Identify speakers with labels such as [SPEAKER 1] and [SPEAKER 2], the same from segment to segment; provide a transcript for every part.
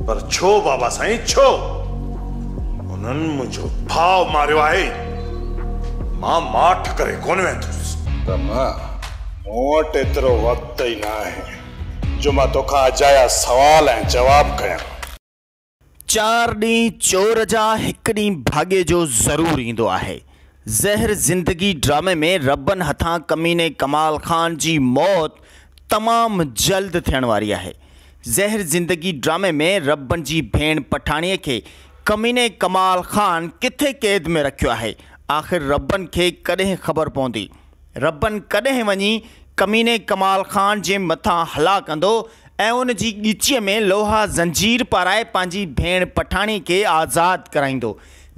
[SPEAKER 1] پر ڇو بابا سائين ڇو؟ انهن منهنجو ڀاء ماريو آهي، مان ماٺ ڪري ڪونه ويندس. ته نه،
[SPEAKER 2] مون وٽ ايترو وقت ئي ناهي جو مان توکان اجايا سوال ۽ جواب ڪيان.
[SPEAKER 3] چار ڏينهن چور جا هڪ ڏينهن ڀاڳي جو ضرور ايندو آهي. زهر زندگي ڊرامي ۾ ربن هٿان ڪميني ڪمال خان جي موت تمام جلد ٿيڻ واري آهي. زهر زندگي ڊرامي ۾ ربن جي ڀيڻ پٺاڻي کي ڪميني ڪمال خان ڪٿي قيد ۾ رکيو آهي آخر ربن کي ڪڏهن خبر پوندي. ربن ڪڏهن وڃي ڪميني ڪمال خان جي مٿان هلا ڪندو ۽ ان جي ڳچيء ۾ لوها زنجير پارائي پنهنجي ڀيڻ پٺاڻي کي آزاد ڪرائيندو.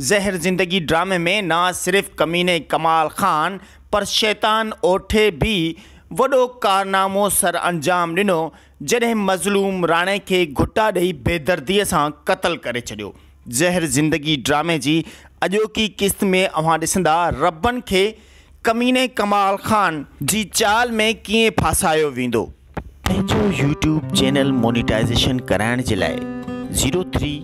[SPEAKER 3] زهر زندگي ڊرامي ۾ نه صرف ڪميني ڪمال خان پر شيطان اوٺي به وڏو ڪارنامو سرانجام ڏنو جڏهن مظلوم راڻي کي گهٽا ڏئي بيدردي سان قتل ڪري ڇڏيو. زهر زندگي ڊرامي جي اڄوڪي قسط ۾ اوهان ڏسندا ربن کي ڪميني ڪمال خان جي چال ۾ ڪيئن ڦاسايو ويندو. پنهنجو يوٽيوب چينل مونيٽائيزيشن ڪرائڻ جي لاء zero three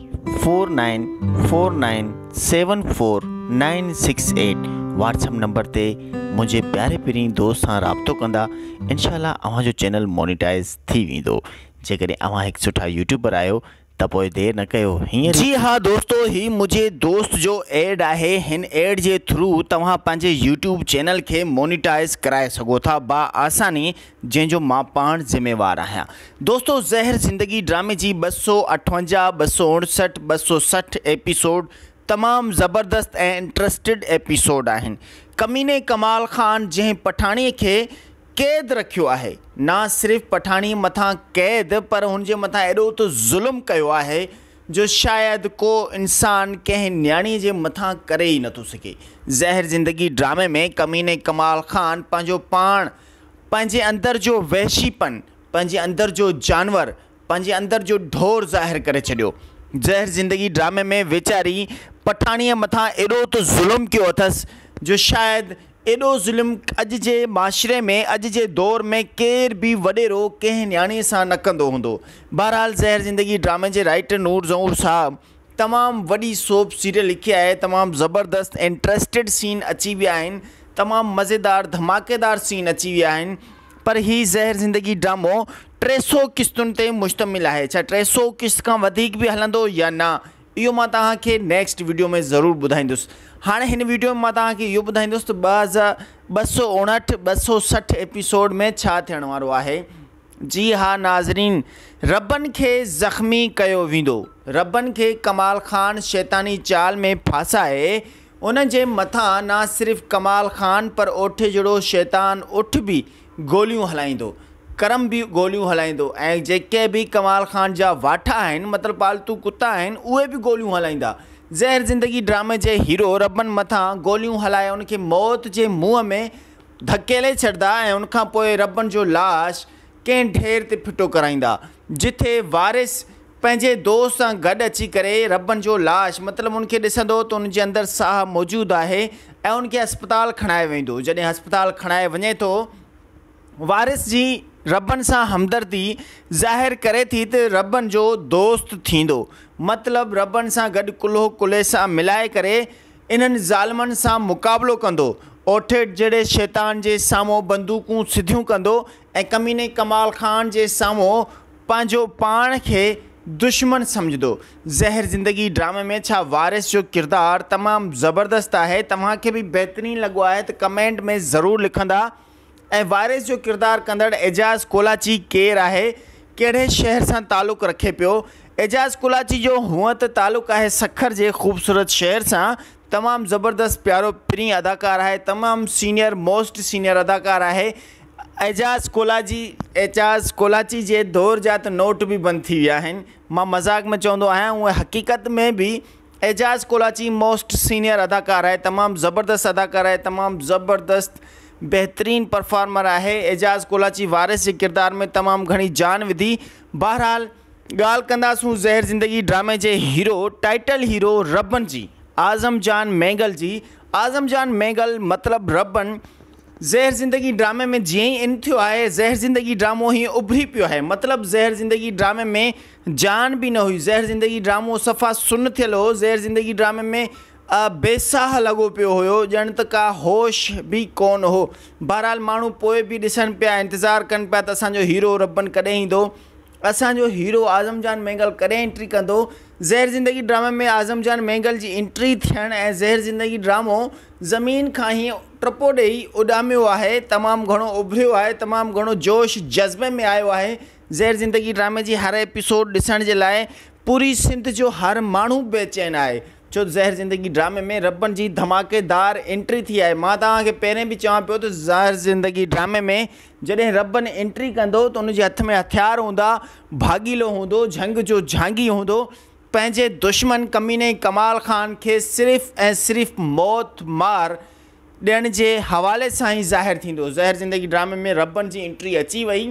[SPEAKER 3] four nine four nine seven four nine six eight WhatsApp number تي منهنجي پياري پرين دوست سان رابطو ڪندا انشاء الله اوهان جو چينل مونيٽائز ٿي ويندو جيڪڏهن اوهان هڪ سٺا يوٽيوبر آهيو ته پوء دير نه ڪيو هينئر جي ها دوستو هي منهنجي دوست جو ايڊ آهي هن ايڊ جي ٿرو توهان پنهنجي يوٽيوب چينل کي مونيٽائز ڪرائي سگهو ٿا با آساني جنهن جو مان پاڻ ذميوار آهيان. دوستو زهر زندگي ڊرامي جي ٻه سؤ اٺونجاهه، ٻه سؤ اڻسٺ، ٻه سؤ سٺ ايپيسوڊ تمام زبردست ۽ انٽرسٽيڊ ايپيسوڊ آهن. ڪميني ڪمال خان جنهن پٺاڻي کي قيد رکيو آهي نا صرف پٺاڻي مٿان قيد پر هن جي مٿان ايڏو ته ظلم ڪيو آهي جو شايد ڪو انسان ڪنهن نياڻي جي مٿان ڪري ئي نٿو سگهي. زهر زندگي ڊرامي ۾ ڪميني ڪمال خان پنهنجو پاڻ پنهنجي اندر جو وحشي پن، پنهنجي اندر جو جانور، پنهنجي اندر جو ڍور ظاهر ڪري ڇڏيو. زهر زندگي ڊرامي ۾ ويچاري پٺاڻيء مٿان ايڏو ته ظلم ڪيو اٿس جو شايد ايڏو ظلم اڄ جي معاشري ۾ اڄ جي دور ۾ ڪير به وڏيرو ڪنهن نياڻيء سان نه ڪندو هوندو. بهرحال زهر زندگي ڊرامي جي رائيٽر نور ظهور صاحب تمام وڏي سوپ سيريل لکي آهي تمام زبردست انٽرسٽيڊ سين اچي ويا آهن تمام مزيدار ڌماڪيدار سين اچي ويا آهن پر هي زهر زندگي ڊرامو ٽي سئو قسطن تي مشتمل آهي ڇا ٽي سئو قسط کان وڌيڪ به هلندو يا نه اهو مان توهان کي نيڪسٽ ويڊيو ۾ ضرور ٻڌائيندس هاڻي هن ويڊيو ۾ مان توهان کي اهو ٻڌائيندس ته ٻه هزار ٻه سئو اڻهٺ ٻه سئو سٺ ايپيسوڊ ۾ ڇا ٿيڻ وارو آهي جي ها ناظرين ربن کي زخمي ڪيو ويندو ربن کي ڪمال خان شيطاني چال ۾ ڦاسائي ان جي مٿان نه صرف ڪمال خان پر اوٺي جھڙو شيطان اٺ به گوليون هلائيندو ڪرم به گوليون هلائيندو ۽ جيڪي به ڪمال خان جا واٺا آهن مطلب پالتو ڪتا آهن اهي به گوليون هلائيندا زهر زندگي ڊرامي جي هيرو ربن مٿان گوليون هلائي ان کي موت جي منهن ۾ ڌڪيلي ڇڏدا ۽ ان کان پوء ربڻ جو لاش ڪنهن ڍير تي ڦٽو ڪرائيندا، جتي وارث پنهنجي دوست سان گڏ اچي ڪري ربڻ جو لاش مطلب ان کي ڏسندو ته ان جي اندر ساهه موجود آهي ۽ ان کي هسپتال کڻائي ويندو، جڏهن هسپتال کڻائي وڃي ٿو، وارث جي ربڻ سان همدردي ظاهر ڪري ٿي ته ربڻ جو دوست ٿيندو، مطلب ربڻ سان گڏ ڪلهو ڪلهي سان ملائي ڪري، انهن ظالمن سان مقابلو ڪندو، اوٺيڊ جهڙي شيطان جي سامهون بندوقون سڌيون ڪندو ۽ ڪميني ڪمال خان جي سامهون پنهنجو پاڻ کي دشمن سمجهندو. زهر زندگي ڊرامي ۾ ڇا وارث جو ڪردار تمام زبردست آهي توهان کي به بهترين لڳو آهي ته ڪمينٽ ۾ ضرور لکندا. ۽ وارث جو ڪردار ڪندڙ اعجاز ڪولاچي ڪير آهي، ڪهڙي شهر سان تعلق رکي پيو؟ اعجاز ڪولاچي جو هونء ته تعلق آهي سکر جي خوبصورت شهر سان، تمام زبردست پيارو پرين اداڪار آهي، تمام سينئر موسٽ سينئر اداڪار آهي اعجاز ڪولاچي، اعجاز ڪولاچي جي دور جا ته نوٽ به بند ٿي ويا آهن، مان مذاق ۾ چوندو آهيان، هونء حقيقت ۾ به اعجاز ڪولاچي موسٽ سينئر اداڪار آهي تمام زبردست اداڪار آهي تمام زبردست بهترين پرفارمر آهي اعجاز ڪولاچي وارث جي ڪردار ۾ تمام گهڻي جان وڌي بهرحال ڳالهه ڪنداسون زهر زندگي ڊرامي جي هيرو ٽائيٽل هيرو ربن جي اعظم جان مينگل جي اعظم جان مينگل مطلب ربن زهر زندگي ڊرامي ۾ جيئن ئي ان ٿيو آهي زهر زندگي ڊرامو هيئن اڀري پيو آهي مطلب زهر زندگي ڊرامي ۾ جان به نه هئي. زهر زندگي ڊرامو صفا سن ٿيل هو. زهر زندگي ڊرامي ۾ بي ساهه لڳو پيو هيو. ڄڻ ته ڪا هوش به ڪونه هو. بهرحال ماڻهو پوء به ڏسن پيا، انتظار ڪن پيا ته اسان جو هيرو ربن ڪڏهن ايندو؟ اسان جو هيرو اعظم جان مينگل ڪڏهن انٽري ڪندو؟ زهر زندگي ڊرامي ۾ اعظم جان مينگل جي انٽري ٿيڻ ۽ زهر زندگي ڊرامو زمين کان هيء ٽپو ڏيئي اڏاميو آهي. تمام گهڻو اڀريو آهي. تمام گهڻو جوش جذبي ۾ آيو آهي. زهر زندگي ڊرامي جي هر ايپيسوڊ ڏسڻ جي لاء پوري سنڌ جو هر ماڻهو بيچين آهي ڇو ته زهر زندگي ڊرامي ۾ ربن جي ڌماڪيدار انٽري ٿي آهي مان توهان کي پهرين به چوان پيو ته زهر زندگي ڊرامي ۾ جڏهن ربن انٽري ڪندو ته ان جي هٿ ۾ هٿيار هوندا ڀاڳيلو هوندو جهنگ جو جهانگي هوندو پنهنجي دشمن ڪميني ڪمال خان کي صرف ۽ صرف موت مار ڏيڻ جي حوالي سان ئي ظاهر ٿيندو. زهر زندگي ڊرامي ۾ ربن جي انٽري اچي وئي.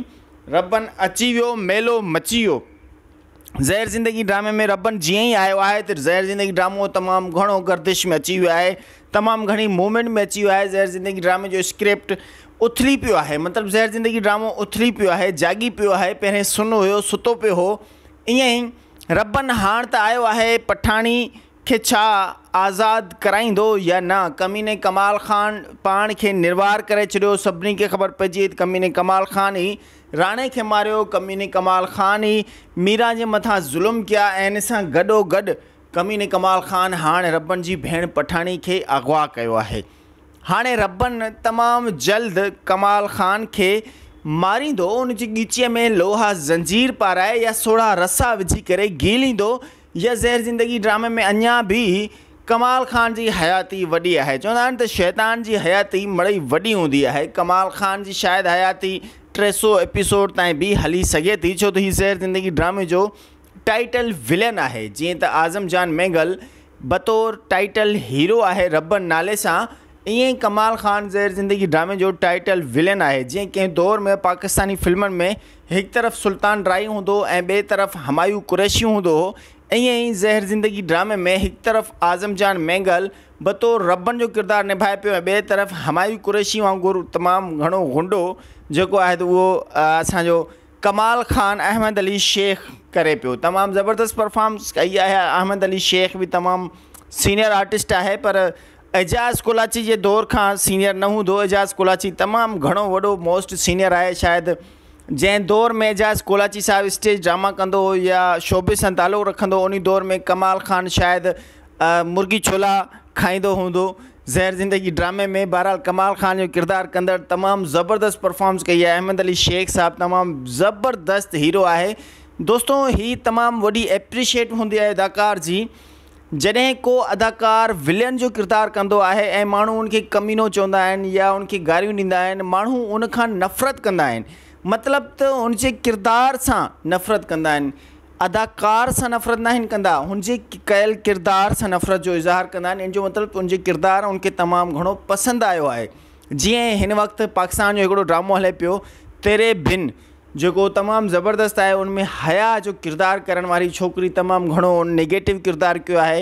[SPEAKER 3] ربن اچي ويو ميلو مچي ويو. زهر زندگي ڊرامي ۾ ربن جيئن ئي آيو آهي ته زهر زندگي ڊرامو تمام گهڻو گردش ۾ اچي ويو آهي تمام گهڻي موومينٽ ۾ اچي ويو آهي زهر زندگي ڊرامي جو اسڪرپٽ اٿلي پيو آهي مطلب زهر زندگي ڊرامو اٿلي پيو آهي جاڳي پيو آهي پهرين سن هيو ستو پيو هو ائين ئي ربن هاڻ ته آيو آهي پٺاڻي کي ڇا آزاد ڪرائيندو يا نه؟ ڪميني ڪمال خان پاڻ کي نروار ڪري ڇڏيو، سڀني کي خبر پئجي وئي ته ڪميني ڪمال خان ئي راڻي کي ماريو، ڪميني ڪمال خان ئي ميران جي مٿان ظلم ڪيا ۽ ان سان گڏو گڏ ڪميني ڪمال خان هاڻ ربن جي ڀيڻ پٺاڻي کي اغوا ڪيو آهي. هاڻي ربن تمام جلد ڪمال خان کي ماريندو، ان جي ڳچيء ۾ لوها زنجير پارائي يا سوڙها رسا وجهي ڪري گهيليندو، يا زهر زندگي ڊرامي ۾ اڃا به ڪمال خان جي حياتي وڏي آهي چوندا آهن ته شيطان جي حياتي مڙئي وڏي هوندي آهي ڪمال خان جي شايد حياتي ٽي سؤ ايپيسوڊ تائين به هلي سگهي ٿي ڇو ته هي زهر زندگي ڊرامي جو ٽائيٽل ولن آهي جيئن ته اعظم جان مينگل بطور ٽائيٽل هيرو آهي ربن نالي سان ائين ئي ڪمال خان زهر زندگي ڊرامي جو ٽائيٽل ولن آهي جيئن ڪنهن دور ۾ پاڪستاني فلمن ۾ هڪ طرف سلطان ڊرائي هوندو هو ۽ ٻئي طرف همايون قريشي هوندو هو. ائين ئي زهر زندگي ڊرامي ۾ هڪ طرف اعظم جان مينگل بطور ربڻ جو ڪردار نڀائي پيو ۽ ٻئي طرف همايون قريشي وانگر تمام گهڻو غنڊو جيڪو آهي ته اهو اسان جو ڪمال خان احمد علي شيخ ڪري پيو. تمام زبردست پرفارمنس ڪئي آهي احمد علي شيخ به تمام سينئر آرٽسٽ آهي پر اعجاز ڪولاچي جي دور کان سينيئر نه هوندو، اعجاز ڪولاچي تمام گهڻو وڏو موسٽ سينيئر آهي شايد جنهن دور ۾ اعجاز ڪولاچي صاحب اسٽيج ڊراما ڪندو هو يا شعبي سان تعلق رکندو هو انهي دور ۾ ڪمال خان شايد مرغي ڇولا کائيندو هوندو زهر زندگي ڊرامي ۾ بهرحال ڪمال خان جو ڪردار ڪندڙ تمام زبردست پرفارمنس ڪئي آهي احمد علي شيخ صاحب تمام زبردست هيرو آهي دوستو هي تمام وڏي اپريشيٽ هوندي آهي اداڪار جي جڏهن ڪو اداڪار ولين جو ڪردار ڪندو آهي ۽ ماڻهو ان کي ڪمينو چوندا آهن يا ان کي گاريون ڏيندا آهن ماڻهو ان کان نفرت ڪندا آهن مطلب ته هن جي ڪردار سان نفرت ڪندا آهن اداڪار سان نفرت ناهن ڪندا هن جي ڪيل ڪردار سان نفرت جو اظهار ڪندا آهن ان جو مطلب ته ان جو ڪردار ان کي تمام گهڻو پسند آيو آهي جيئن هن وقت پاڪستان جو هڪڙو ڊرامو هلي پيو تيري بن جيڪو تمام زبردست آهي ان ۾ حياء جو ڪردار ڪرڻ واري ڇوڪري تمام گهڻو نيگيٽو ڪردار ڪيو آهي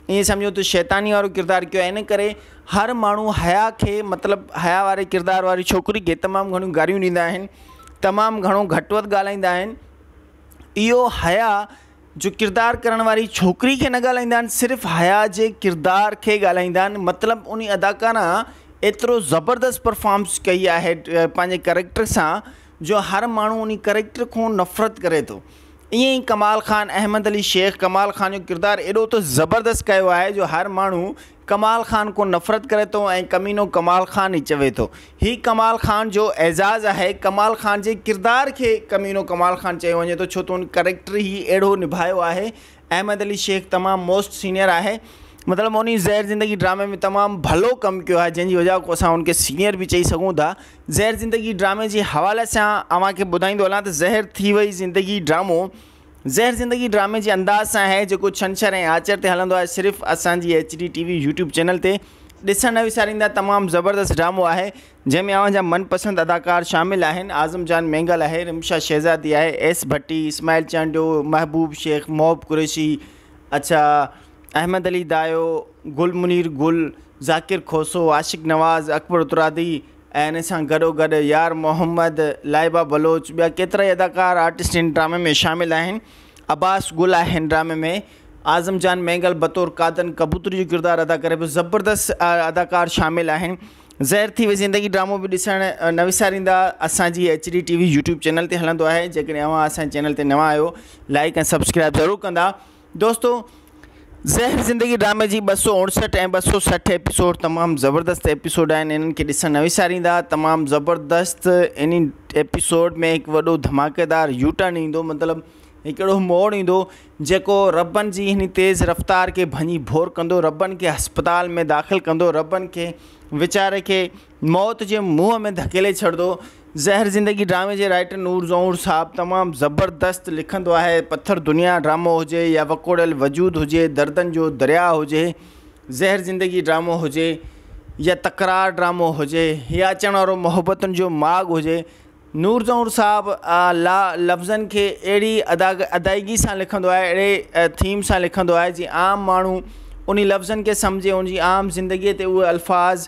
[SPEAKER 3] ائين سمجهو ته شيطاني وارو ڪردار ڪيو آهي ان ڪري هر ماڻهو حياء کي مطلب حياء واري ڪردار واري ڇوڪري کي تمام گهڻيون گاريون ڏيندا آهن تمام گهڻو گهٽ وڌ ڳالهائيندا آهن اهو حياء جو ڪردار ڪرڻ واري ڇوڪري کي نه ڳالهائيندا آهن صرف حيا جي ڪردار کي ڳالهائيندا آهن مطلب ان اداڪارا ايترو زبردست پرفامس ڪئي آهي پنهنجي ڪريڪٽر سان جو هر ماڻهو ان ڪريڪٽر کون نفرت ڪري ٿو ائين ئي ڪمال خان احمد علي شيخ ڪمال خان جو ڪردار ايڏو ته زبردست ڪيو آهي جو هر ماڻهو ڪمال خان کون نفرت ڪري ٿو ۽ ڪمينو ڪمال خان ئي چوي ٿو. هي ڪمال خان جو اعزاز آهي. ڪمال خان جي ڪردار کي ڪمينو ڪمال خان چيو وڃي ٿو ڇو ته هن ڪريڪٽر ئي اهڙو نڀايو آهي. احمد علي شيخ تمام موسٽ سينئر آهي. مطلب هن زهر زندگي ڊرامي ۾ تمام ڀلو ڪم ڪيو آهي جنهن جي وجهه کون اسان هن کي سينئر به چئي سگهون ٿا. زهر زندگي ڊرامي جي حوالي سان اوهان کي ٻڌائيندو هلان ته زهر ٿي وئي زندگي ڊرامو زهر زندگي ڊرامي جي انداز سان آهي جيڪو ڇنڇر ۽ آچر تي هلندو آهي صرف اسان جي H D T V YouTube channel تي ڏسڻ نه وساريندا تمام زبردست ڊرامو آهي جنهن ۾ اوهان جا من پسند اداڪار شامل آهن اعظم جان مينگل آهي رمشا شهزادي آهي ايس ڀٽي اسماعيل چانڊيو محبوب شيخ محب قريشي اڇا احمد علي دايو گل منير گل ذاڪر کوسو عاشق نواز اڪبر اترادي ۽ ان سان گڏوگڏ يار محمد، لائبه بلوچ، ٻيا ڪيترائي اداڪار آرٽسٽ هن ڊرامي ۾ شامل آهن. عباس گل آهي هن ڊرامي ۾ اعظم جان مينگل بطور قادن ڪبوتري جو ڪردار ادا ڪري پيو زبردست اداڪار شامل آهن زهر ٿي وئي زندگي ڊرامو به ڏسڻ نه وساريندا اسان جي H D T V YouTube channel تي هلندو آهي جيڪڏهن اوهان اسان جي چينل تي نوان آهيو لائڪ ۽ سبسڪرائب ضرور ڪندا دوستو زهر زندگي ڊرامي جي ٻه سؤ اڻسٺ ۽ ٻه سؤ سٺ ايپيسوڊ تمام زبردست ايپيسوڊ آهن انهن کي ڏسڻ نه وساريندا تمام زبردست ان ايپيسوڊ ۾ هڪ وڏو ڌماڪيدار يو ٽرن ايندو مطلب هڪ اهڙو موڙ ايندو جيڪو ربن جي هن تيز رفتار کي ڀڃي ڀور ڪندو ربن کي اسپتال ۾ داخل ڪندو ربن کي ويچاري کي موت جي منهن ۾ ڌڪيلي ڇڏدو. زهر زندگي ڊرامي جي رائٽر نور زهور صاحب تمام زبردست لکندو آهي پٿر دنيا ڊرامو هجي يا وڪوڙيل وجود هجي دردن جو درياهه هجي زهر زندگي ڊرامو هجي يا تڪرار ڊرامو هجي يا اچڻ وارو محبتن جو ماڳ هجي نور زهور صاحب لا لفظن کي اهڙي ادا ادائيگي سان لکندو آهي اهڙي ٿيم سان لکندو آهي جي عام ماڻهو انهي لفظن کي سمجهي ان جي عام زندگي تي اهي الفاظ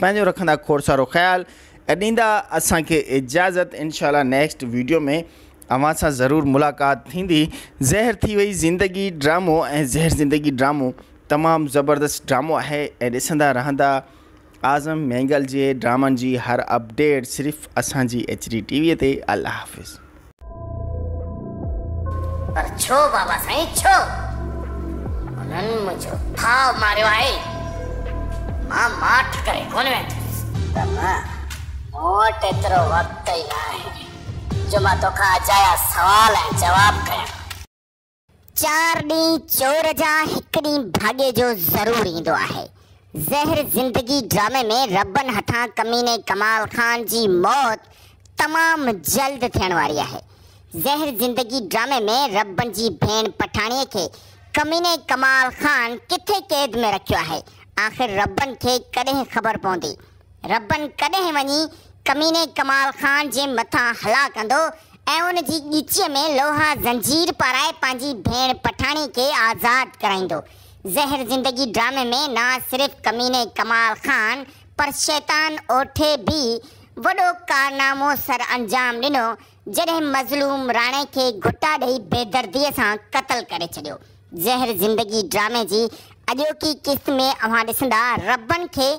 [SPEAKER 3] پنهنجو رکندا کوڙ سارو خيال ۽ ڏيندا اسان کي اجازت انشاء الله نيڪسٽ ويڊيو ۾ اوهان سان ضرور ملاقات ٿيندي زهر ٿي وئي زندگي ڊرامو ۽ زهر زندگي ڊرامو تمام زبردست ڊرامو آهي ۽ ڏسندا رهندا اعظم مينگل جي ڊرامن جي هر اپڊيٽ صرف اسان جي ايچ ڊي ٽي وي تي الله حافظ.
[SPEAKER 4] پر ڇو بابا سائين ڇو؟ انهن منهنجو ڀاء ماريو آهي. مان ماٺ ڪري ڪونه وينديس. بابا مون وٽ ايترو وقت ئي ناهي جو مان توکان اجايا سوال ۽ جواب ڪيان. چار ڏينهن چور جا هڪ ڏينهن ڀاڳي جو ضرور ايندو آهي. زهر زندگي ڊرامي ۾ ربن هٿان ڪميني ڪمال خان جي موت تمام جلد ٿيڻ واري آهي. زهر زندگي ڊرامي ۾ ربن جي ڀيڻ پٺاڻي کي ڪميني ڪمال خان ڪٿي قيد ۾ رکيو آهي آخر ربن کي ڪڏهن خبر پوندي. ربن ڪڏهن وڃي ڪميني ڪمال خان جي مٿان هلا ڪندو ۽ ان جي ڳچيء ۾ لوها زنجير پارائي پنهنجي ڀيڻ پٺاڻي کي آزاد ڪرائيندو. زهر زندگي ڊرامي ۾ نه صرف ڪميني ڪمال خان پر شيطان اوٺي به وڏو ڪارنامو سرانجام ڏنو جڏهن مظلوم راڻي کي گهٽا ڏئي بيدردي سان قتل ڪري ڇڏيو. زهر زندگي ڊرامي جي اڄوڪي قسط ۾ اوهان ڏسندا ربن کي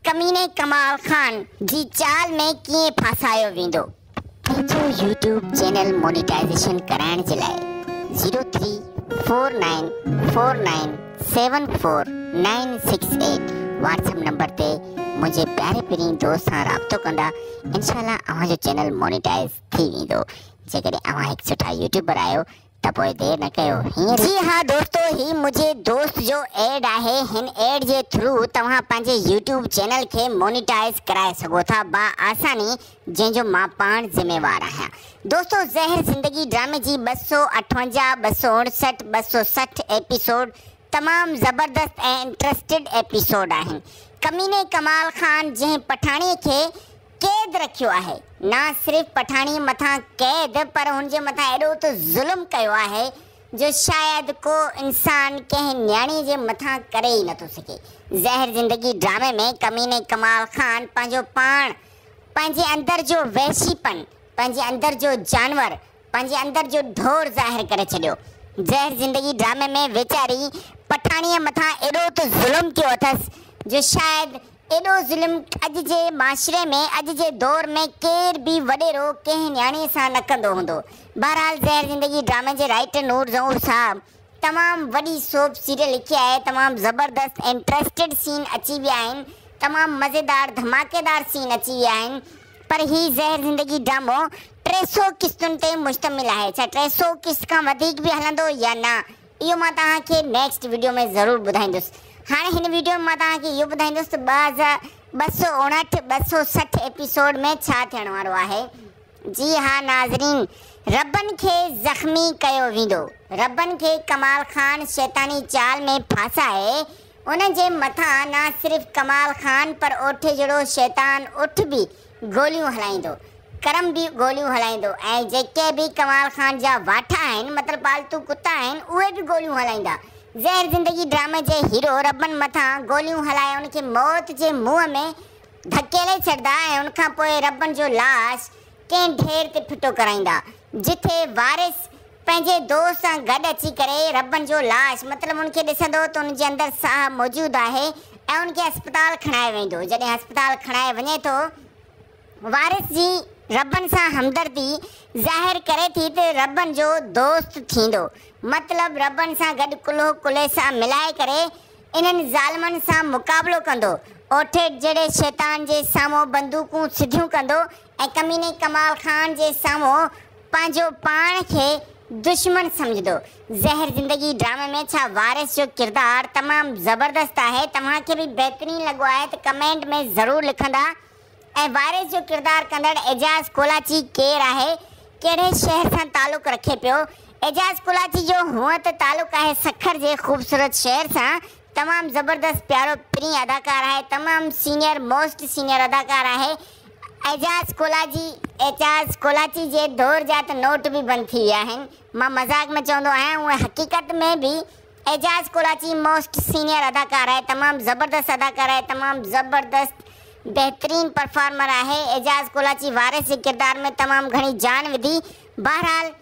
[SPEAKER 4] ڪميني ڪمال خان جي چال ۾ ڪيئن ڦاسايو ويندو. پنهنجو يوٽيوب چينل مونيٽائيزيشن ڪرائڻ جي لاء zero three four nine four nine seven four nine six eight WhatsApp number تي منهنجي پياري پرين دوست سان رابطو ڪندا انشاء الله اوهان جو چينل مونيٽائز ٿي ويندو جيڪڏهن اوهان هڪ سٺا يوٽيوبر آهيو ته پوء دير نه ڪيو هينئر ئي جي ها دوستو هي منهنجي دوست جو ايڊ آهي هن ايڊ جي ٿرو توهان پنهنجي يوٽيوب چينل کي مونيٽائز ڪرائي سگهو ٿا با آساني جنهن جو مان پاڻ ذميوار آهيان. دوستو زهر زندگي ڊرامي جي ٻه سؤ اٺونجاهه، ٻه سؤ اڻسٺ، ٻه سؤ سٺ ايپيسوڊ تمام زبردست ۽ انٽرسٽيڊ ايپيسوڊ آهن. ڪميني ڪمال خان جنهن پٺاڻي کي قيد رکيو آهي نا صرف پٺاڻي مٿان قيد پر هن جي مٿان ايڏو ته ظلم ڪيو آهي جو شايد ڪو انسان ڪنهن نياڻي جي مٿان ڪري ئي نٿو سگهي. زهر زندگي ڊرامي ۾ ڪميني ڪمال خان پنهنجو پاڻ پنهنجي اندر جو وحشي پن، پنهنجي اندر جو جانور، پنهنجي اندر جو ڍور ظاهر ڪري ڇڏيو. زهر زندگي ڊرامي ۾ ويچاري پٺاڻيء مٿان ايڏو ته ظلم ٿيو اٿس جو شايد ايڏو ظلم اڄ جي معاشري ۾ اڄ جي دور ۾ ڪير به وڏيرو ڪنهن نياڻيء سان نه ڪندو هوندو. بهرحال زهر زندگي ڊرامي جي رائيٽر نور ظهور صاحب تمام وڏي سوپ سيريل لکي آهي تمام زبردست انٽرسٽيڊ سين اچي ويا آهن تمام مزيدار ڌماڪيدار سين اچي ويا آهن پر هي زهر زندگي ڊرامو ٽي سو قسطن تي مشتمل آهي ڇا ٽي سو قسط کان وڌيڪ به هلندو يا نه اهو مان توهان کي نيڪسٽ ويڊيو ۾ ضرور ٻڌائيندس هاڻي هن ويڊيو ۾ مان توهان کي اهو ٻڌائيندس ته ٻه هزار ٻه سؤ اڻهٺ ٻه سؤ سٺ ايپيسوڊ ۾ ڇا ٿيڻ وارو آهي. جي ها ناظرين ربن کي زخمي ڪيو ويندو ربن کي ڪمال خان شيطاني چال ۾ ڦاسائي ان جي مٿان نه صرف ڪمال خان پر اوٺي جھڙو شيطان اٺ به گوليون هلائيندو ڪرم به گوليون هلائيندو ۽ جيڪي به ڪمال خان جا واٺ آهن مطلب پالتو ڪتا آهن اهي به گوليون هلائيندا زهر زندگي ڊرامي جي هيرو ربن مٿان گوليون هلائي ان کي موت جي منهن ۾ ڌڪيلي ڇڏدا ۽ ان کان پوء ربن جو لاش ڪنهن ڍير تي ڦٽو ڪرائيندا جتي وارث پنهنجي دوست سان گڏ اچي ڪري ربن جو لاش مطلب ان کي ڏسندو ته ان جي اندر ساهه موجود آهي ۽ ان کي هسپتال کڻايو ويندو جڏهن هسپتال کڻايو وڃي ٿو وارث جي ربن سان همدردي ظاهر ڪري ٿي ته ربن جو دوست ٿيندو مطلب ربن سان گڏ ڪلهو ڪلهي سان ملائي ڪري انهن ظالمن سان مقابلو ڪندو، اوٺيڪ جهڙي شيطان جي سامهون بندوقون سڌيون ڪندو ۽ ڪميني ڪمال خان جي سامهون پنهنجو پاڻ کي دشمن سمجهندو. زهر زندگي ڊرامي ۾ ڇا وارث جو ڪردار تمام زبردست آهي توهان کي به بهترين لڳو آهي ته ڪمينٽ ۾ ضرور لکندا. ۽ وارث جو ڪردار ڪندڙ اعجاز ڪولاچي ڪير آهي، ڪهڙي شهر سان تعلق رکي پيو؟ اعجاز ڪولاچي جو هونء ته تعلق آهي سکر جي خوبصورت شهر سان، تمام زبردست پيارو پرين اداڪار آهي، تمام سينئر موسٽ سينئر اداڪار آهي اعجاز ڪولاچي، اعجاز ڪولاچي جي دور جا ته نوٽ به بند ٿي ويا آهن، مان مذاق ۾ چوندو آهيان هونء حقيقت ۾ به اعجاز ڪراچي موسٽ سينئر اداڪار آهي تمام زبردست اداڪار آهي تمام زبردست بهترين پرفارمر آهي اعجاز ڪراچي وارث جي ڪردار ۾ تمام گهڻي جان وڌي بهرحال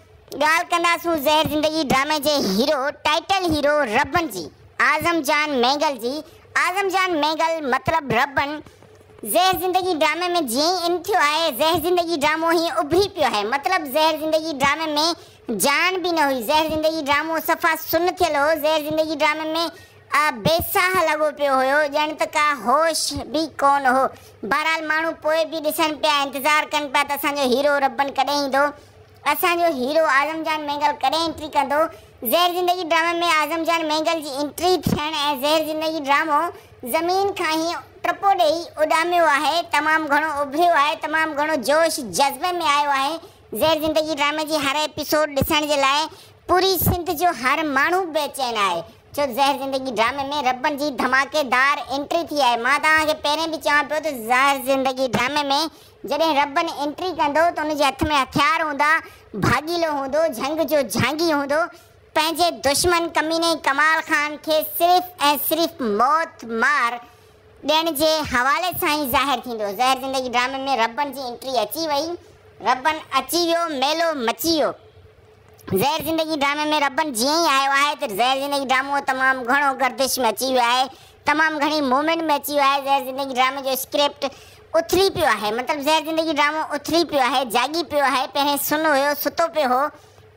[SPEAKER 4] ڳالهه ڪنداسون زهر زندگي ڊرامي جي هيرو ٽائيٽل هيرو ربن جي اعظم جان مينگل جي اعظم جان مينگل مطلب ربن زهر زندگي ڊرامي ۾ جيئن ئي ان ٿيو آهي زهر زندگي ڊرامو هيئن اڀري پيو آهي مطلب زهر زندگي ڊرامي ۾ جان به نه هئي. زهر زندگي ڊرامو صفا سن ٿيل هو. زهر زندگي ڊرامي ۾ آء بي ساهه لڳو پيو هيو. ڄڻ ته ڪا هوش به ڪونه هو. بهرحال ماڻهو پوء به ڏسن پيا، انتظار ڪن پيا ته اسان جو هيرو ربن ڪڏهن ايندو؟ اسان جو هيرو اعظم جان مينگل ڪڏهن انٽري ڪندو؟ زهر زندگي ڊرامي ۾ اعظم جان مينگل جي انٽري ٿيڻ ۽ زهر زندگي ڊرامو زمين کان هيئن ٽپو ڏيئي اڏاميو آهي. تمام گهڻو اڀريو آهي. تمام گهڻو جوش جذبي ۾ آيو آهي. زهر زندگي ڊرامي جي هر ايپيسوڊ ڏسڻ جي لاء پوري سنڌ جو هر ماڻهو بي چين آهي ڇو زهر زندگي ڊرامي ۾ ربن جي ڌماڪي دار انٽري ٿي آهي مان توهان کي پهرين به چوان پيو ته زهر زندگي ڊرامي ۾ جڏهن ربن انٽري ڪندو ته ان جي هٿ ۾ هٿيار هوندا ڀاڳيلو هوندو جهنگ جو جهانگي هوندو پنهنجي دشمن ڪميني ڪمال خان کي صرف ۽ صرف موت مار ڏيڻ جي حوالي سان ئي ظاهر ٿيندو. زهر زندگي ڊرامي ۾ ربن جي انٽري اچي وئي، ربن اچي ويو، ميلو مچي ويو. زهر زندگي ڊرامي ۾ ربن جيئن ئي آيو آهي ته زهر زندگي ڊرامو تمام گهڻو گردش ۾ اچي ويو آهي، تمام گهڻي موومينٽ ۾ اچي ويو آهي، زهر زندگي ڊرامي جو اسڪرپٽ اٿلي پيو آهي، مطلب زهر زندگي ڊرامو اٿلي پيو آهي، جاڳي پيو آهي، پهرين سن هيو، ستو پيو هو،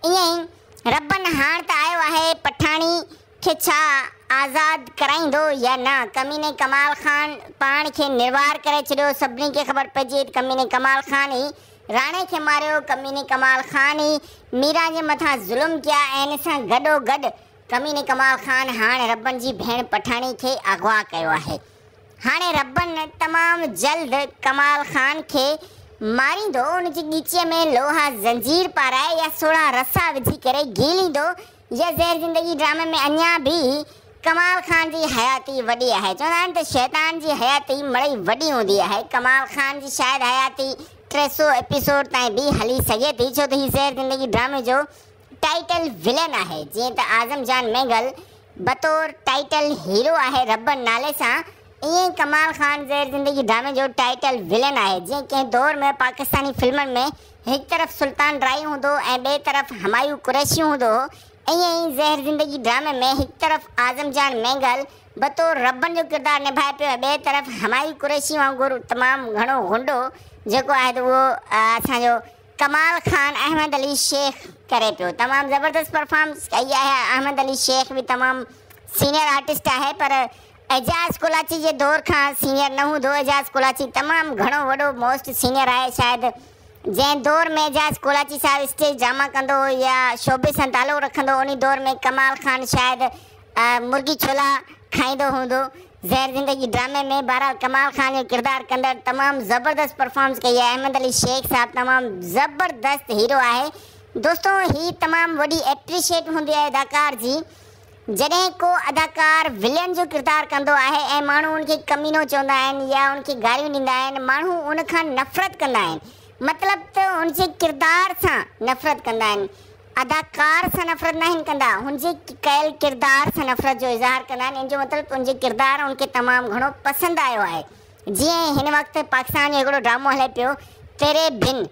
[SPEAKER 4] ائين ئي ربن هاڻ ته آيو آهي، پٺاڻي. کي ڇا آزاد ڪرائيندو يا نه؟ ڪميني ڪمال خان پاڻ کي نروار ڪري ڇڏيو، سڀني کي خبر پئجي وئي ته ڪميني ڪمال خان ئي راڻي کي ماريو، ڪميني ڪمال خان ئي ميران جي مٿان ظلم ڪيا ۽ ان سان گڏو گڏ ڪميني ڪمال خان هاڻ ربن جي ڀيڻ پٺاڻي کي اغوا ڪيو آهي. هاڻي ربن تمام جلد ڪمال خان کي ماريندو، ان جي ڳچيء ۾ لوها زنجير پارائي يا سوڙها رسا وجهي ڪري گهيليندو، يا زهر زندگي ڊرامي ۾ اڃا به ڪمال خان جي حياتي وڏي آهي چوندا آهن ته شيطان جي حياتي مڙئي وڏي هوندي آهي ڪمال خان جي شايد حياتي ٽي سؤ ايپيسوڊ تائين به هلي سگهي ٿي ڇو ته هي زهر زندگي ڊرامي جو ٽائيٽل ولن آهي جيئن ته اعظم جان مينگل بطور ٽائيٽل هيرو آهي ربڙ نالي سان ائين ئي ڪمال خان زهر زندگي ڊرامي جو ٽائيٽل ولن آهي جيئن ڪنهن دور ۾ پاڪستاني فلمن ۾ هڪ طرف سلطان ڊرائي هوندو هو ۽ ٻئي طرف همايون قريشي هوندو هو. ائين ئي زهر زندگي ڊرامي ۾ هڪ طرف اعظم جان مينگل بطور ربن جو ڪردار نڀائي پيو ۽ ٻئي طرف همايون قريشي وانگر تمام گهڻو غنڊو جيڪو آهي ته اهو اسان جو ڪمال خان احمد علي شيخ ڪري پيو. تمام زبردست پرفارمنس ڪئي آهي احمد علي شيخ به تمام سينئر آرٽسٽ آهي پر اعجاز ڪولاچي جي دور کان سينئر نه هوندو، اعجاز ڪولاچي تمام گهڻو وڏو موسٽ سينئر آهي شايد جنهن دور ۾ اعجاز ڪولاچي صاحب اسٽيج ڊراما ڪندو هو يا شعبي سان تعلق رکندو هو انهي دور ۾ ڪمال خان شايد مرغي ڇولا کائيندو هوندو زهر زندگي ڊرامي ۾ بهرحال ڪمال خان جو ڪردار ڪندڙ تمام زبردست پرفارمنس ڪئي آهي احمد علي شيخ صاحب تمام زبردست هيرو آهي دوستو هي تمام وڏي ايپريشيٽ هوندي آهي اداڪار جي جڏهن ڪو اداڪار ولين جو ڪردار ڪندو آهي ۽ ماڻهو ان کي ڪمينو چوندا آهن يا ان کي گاريون ڏيندا آهن، ماڻهو ان کان نفرت ڪندا آهن. مطلب ته هن جي ڪردار سان نفرت ڪندا آهن. اداڪار سان نفرت ناهن ڪندا، هن جي ڪيل ڪردار سان نفرت جو اظهار ڪندا آهن. ان جو مطلب ته ان جو ڪردار ان کي تمام گهڻو پسند آيو آهي. جيئن هن وقت پاڪستان ۾ هڪڙو ڊرامو هلي پيو تيري بن.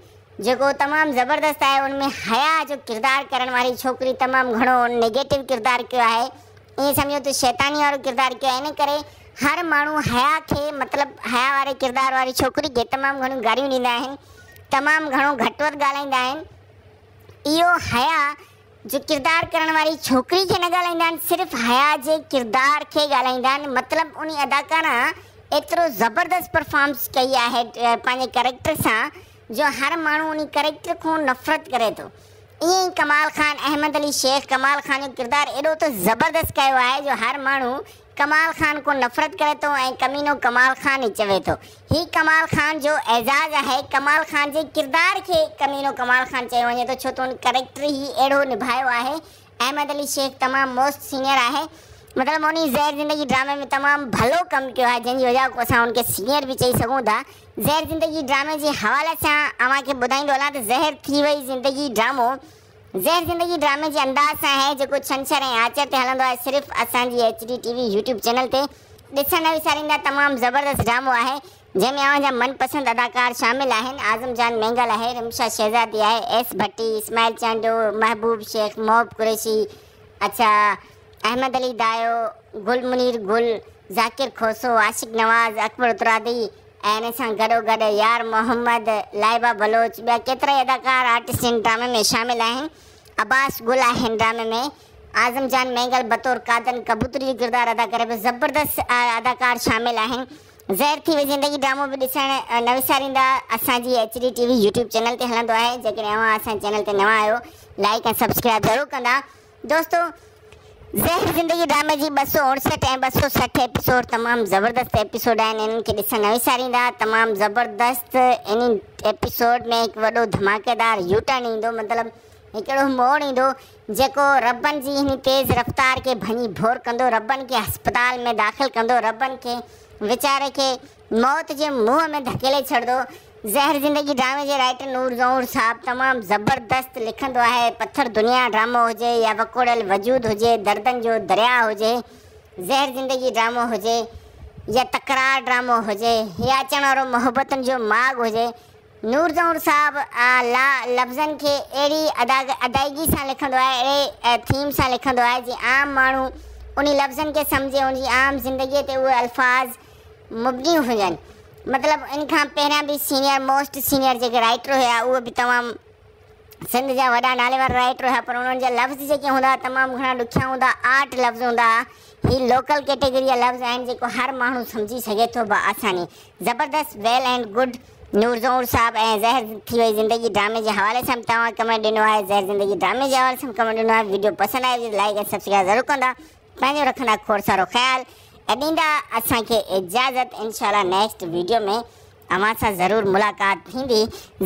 [SPEAKER 4] جيڪو تمام زبردست آهي ان ۾ حياء جو ڪردار ڪرڻ واري ڇوڪري تمام گهڻو نيگيٽو ڪردار ڪيو آهي ائين سمجهو ته شيطاني وارو ڪردار ڪيو آهي ان ڪري هر ماڻهو حياء کي مطلب حياء واري ڪردار واري ڇوڪري کي تمام گهڻيون گاريون ڏيندا آهن تمام گهڻو گهٽ وڌ ڳالهائيندا آهن اهو حياء جي ڪردار ڪرڻ واري ڇوڪري کي نه ڳالهائيندا آهن صرف حيا جي ڪردار کي ڳالهائيندا آهن مطلب انهي اداڪارا ايترو زبردست پرفارمس ڪئي آهي پنهنجي ڪريڪٽر سان جو هر ماڻهو انهي ڪريڪٽر کون نفرت ڪري ٿو ائين ئي ڪمال خان احمد علي شيخ ڪمال خان جو ڪردار ايڏو ته زبردست ڪيو آهي جو هر ماڻهو ڪمال خان کون نفرت ڪري ٿو ۽ ڪمينو ڪمال خان ئي چوي ٿو. هي ڪمال خان جو اعزاز آهي. ڪمال خان جي ڪردار کي ڪمينو ڪمال خان چيو وڃي ٿو ڇو ته هن ڪريڪٽر ئي اهڙو نڀايو آهي. احمد علي شيخ تمام موسٽ سينئر آهي. مطلب هن زهر زندگي ڊرامي ۾ تمام ڀلو ڪم ڪيو آهي جنهن جي وجهه کان اسان هن کي سينئر به چئي سگهون ٿا. زهر زندگي ڊرامي جي حوالي سان اوهان کي ٻڌائيندو هلان ته زهر ٿي وئي زندگي ڊرامو زهر زندگي ڊرامي جي انداز سان اهي جيڪو ڇنڇر ۽ آچر تي هلندو آهي صرف اسان جي H D T V YouTube channel تي ڏسڻ نه وساريندا تمام زبردست ڊرامو آهي جنهن ۾ اوهان جا من پسند اداڪار شامل آهن اعظم جان مينگل آهي رمشا شهزادي آهي ايس ڀٽي اسماعيل چانڊيو محبوب شيخ محب قريشي اڇا احمد علي دايو گل منير گل ذاڪر کوسو عاشق نواز اڪبر اترادي ۽ ان سان گڏوگڏ يار محمد، لائبه بلوچ، ٻيا ڪيترائي اداڪار آرٽسٽ هن ڊرامي ۾ شامل آهن. عباس گل آهي هن ڊرامي ۾. اعظم جان مينگل بطور قادن ڪبوتر جو ڪردار ادا ڪري پيو. زبردست اداڪار شامل آهن. زهر ٿي وئي زندگي ڊرامو به ڏسڻ نه وساريندا. اسان جي H D T V YouTube channel تي هلندو آهي. جيڪڏهن اوهان اسان جي چينل تي نوان آهيو لائيڪ ۽ سبسڪرائيب ضرور ڪندا. دوستو زهر زندگي ڊرامي جي ٻه سؤ اڻسٺ ۽ ٻه سؤ سٺ ايپيسوڊ تمام زبردست ايپيسوڊ آهن انهن کي ڏسڻ نه وساريندا تمام زبردست انهي ايپيسوڊ ۾ هڪ وڏو ڌماڪيدار يوٽرن ايندو مطلب هڪ اهڙو موڙ ايندو جيڪو ربن جي انهي تيز رفتار کي ڀڃي ڀور ڪندو ربن کي هسپتال ۾ داخل ڪندو ربن کي ويچاري کي موت جي منهن ۾ ڌڪيلي ڇڏندو. زهر زندگي ڊرامي جي رائٽر نور جوهر صاحب تمام زبردست لکندو آهي. پٿر دنيا ڊرامو هجي يا وڪوڙيل وجود هجي، دردن جو درياء هجي، زهر زندگي ڊرامو هجي يا تڪرار ڊرامو هجي يا اچڻ وارو محبتن جو ماڳ هجي، نور جوهر صاحب لا لفظن کي اهڙي ادائگي سان لکندو آهي، اهڙي ٿيم سان لکندو آهي جي عام ماڻهو انهي لفظن کي سمجهي، ان جي عام زندگي تي اهي الفاظ مبني هجن مطلب ان کان پهريان به سينئر موسٽ سينئر جيڪي رائٽر هيا اهي به تمام سنڌ جا وڏا نالي وارا رائٽر هيا پر انهن جا لفظ جيڪي هوندا تمام گهڻا ڏکيا هوندا آرٽ لفظ هوندا هي لوڪل ڪيٽيگري جا لفظ آهن جيڪو هر ماڻهو سمجهي سگهي ٿو بآساني زبردست well and good Noor Zahoor صاحب ۽ زهر ٿي وئي زندگي ڊرامي جي حوالي سان توهان ڪمنٽ ڏنو آهي زهر زندگي ڊرامي جي حوالي سان ڪمنٽ ڏنو آهي ويڊيو پسند آئي هجي لائڪ ۽ سبسڪرائب ضرور ڪندا پنهنجو رکندا کوڙ سارو خيال ۽ ڏيندا اسان کي اجازت انشاء الله نيڪسٽ ويڊيو ۾ اوهان سان ضرور ملاقات ٿيندي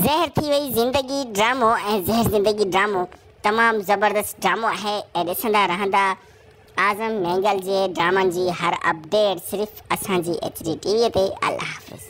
[SPEAKER 4] زهر ٿي وئي زندگي ڊرامو ۽ زهر زندگي ڊرامو تمام زبردست ڊرامو آهي ۽ ڏسندا رهندا اعظم نينگل جي ڊرامن جي هر اپڊيٽ صرف اسان جي ايچ ڊي ٽي وي تي الله حافظ